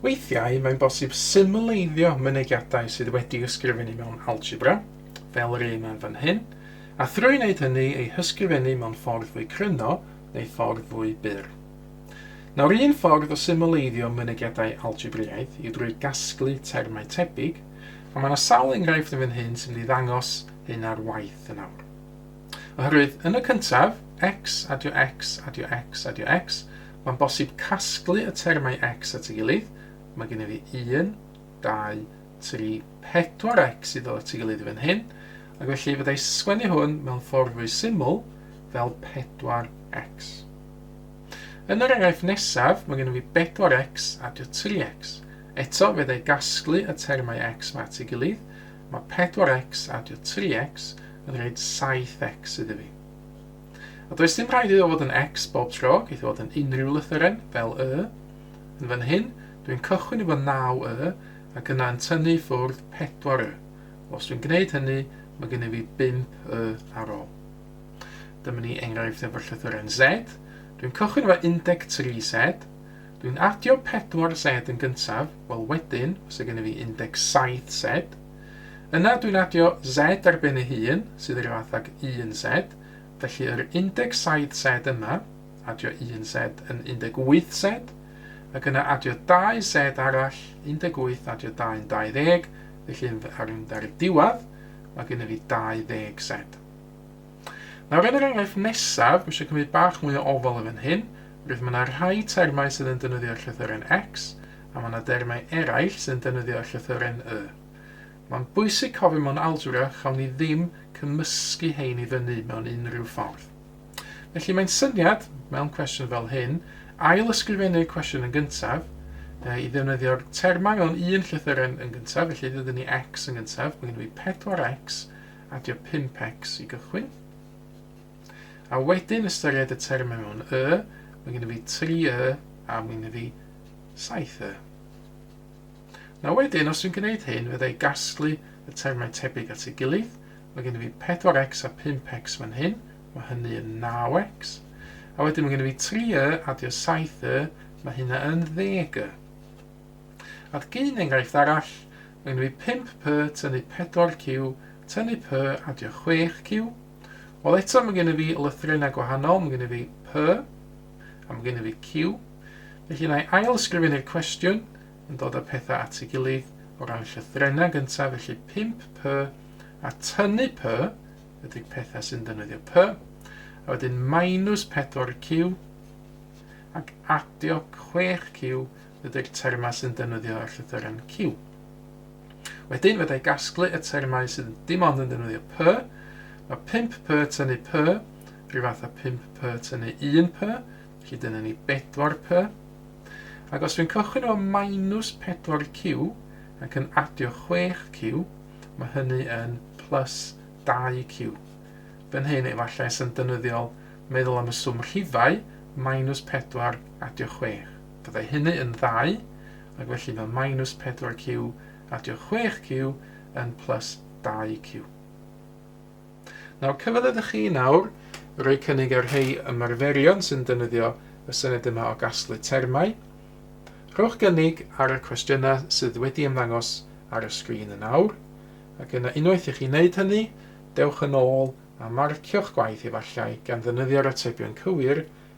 Weithiau mae'n bosib symleiddio mynegiadau sydd wedi ysgrifennu mewn algebra, fel yr un yn fan hyn, a thrwy wneud hynny ei hysgrifennu mewn ffordd fwy cryno neu ffordd fwy byr. Nawr un ffordd o symleiddio mynegiadau algebraidd yw drwy gasglu termau tebyg, a mae yna sawl enghraifft yn fan hyn sy'n mynd i ddangos hyn ar waith yn awr. Oherwydd, yn y cyntaf, X, adio X, adio X, adio X, mae'n bosib casglu y termau X at ei gilydd. Mae gen i fi 1, 2, 3, 4 X i ddod at ei gilydd i fan hyn. Ac felly, fydda i sgwennu hwn mewn ffordd fwy syml fel 4 X. Yn yr enghraifft nesaf, mae gen i fi 4 X adio 3 X. Eto, fydda i gasglu y termau X mae at ei gilydd, Mae 4x a dio 3x yn rhaid 7x iddo fi. A does dim rhaid iddo fod yn x bob tro, geith fod yn unrhyw lythyren, fel y. Yn fan hyn, dwi'n cychwyn efo 9 y, ac yna yn tynnu i ffwrdd 4 y. Os dwi'n gwneud hynny, mae gen i fi 5 y ar ôl. Dyma ni enghraifft efo'r llythyren z. Dwi'n cychwyn efo 13 z, Dwi'n adio pedwar sed yn gyntaf, wel wedyn, os yw gennyf fi 17 sed, yna dwi'n adio sed ar ben ei hun, sydd yr fath ag un sed, felly yr 17 sed yma, adio un sed yn 18 sed, ac yna adio dau sed arall, 18 adio 2 yn 20, felly yn fy- ar mynd ar y diwedd, mae gennyf fi 20 sed. Nawr yn yr enghraifft nesaf, dwi eisiau cymryd bach mwy o ofal yn fan hyn, Rwyf Mae yna rhai termau sydd yn defnyddio llythyren X, a mae yna dermau eraill sy'n defnyddio llythyren Y. Mae'n bwysig cofio mewn algebra chawn ni ddim cymysgu hein i fyny mewn unrhyw ffordd. Felly mae'n syniad, mewn cwestiwn fel hyn, ail ysgrifennu'r cwestiwn yn gyntaf, e, i ddefnyddio'r termau mewn un llythyren yn gyntaf, felly dydy ni X yn gyntaf, mae gen i 4X, adio 5X i gychwyn. A wedyn ystyried y termau mewn y, mae gen i fi 3 y a mae gen i fi 7 y. Na wedyn, os dwi'n gwneud hyn, fydda i gasglu y termau tebyg at ei gilydd. Mae gen i fi 4x a 5x fan hyn, mae hynny yn 9x. A wedyn mae gen i fi 3 y adio 7 y, mae hynna yn 10 y. A'r gyn enghraifft arall, mae gen i fi 5p tynnu 4q tynnu p adio 6q, Wel eto mae gen i fi lythrennau gwahanol, mae gen i fi P a mae gen i fi Q. Felly na i ail ysgrifennu'r cwestiwn yn dod â pethau at ei gilydd o ran llythrennau gyntaf, felly 5 P a tynnu P ydy'r pethau sy'n defnyddio P, a wedyn minus 4 Q ac adio 6 Q ydy'r termau sy'n defnyddio y llythyren Q. Wedyn, fydda i gasglu y termau sydd dim ond yn defnyddio P. Mae 5 P tynnu P, rhyw fath â 5 P tynnu 1 P, felly dyna ni 4 P. Ac os dwi'n cychwyn o minus 4 Q ac yn adio 6 Q, mae hynny yn plus 2 Q. Fan hyn, efallai sy'n dynyddiol meddwl am y swm rhifau, minus 4 adio 6. Byddai hynny yn ddau, ac felly mae minus 4q adio 6q yn plus 2q. Nawr, cyfle ydych chi nawr roi cynnig ar rhai ymarferion sy'n defnyddio y syniad yma o gasglu termau. Rhowch gynnig ar y cwestiynau sydd wedi ymddangos ar y sgrin yn awr, ac yna unwaith i chi wneud hynny, dewch yn ôl a marcio'ch gwaith efallai gan ddefnyddio'r atebion cywir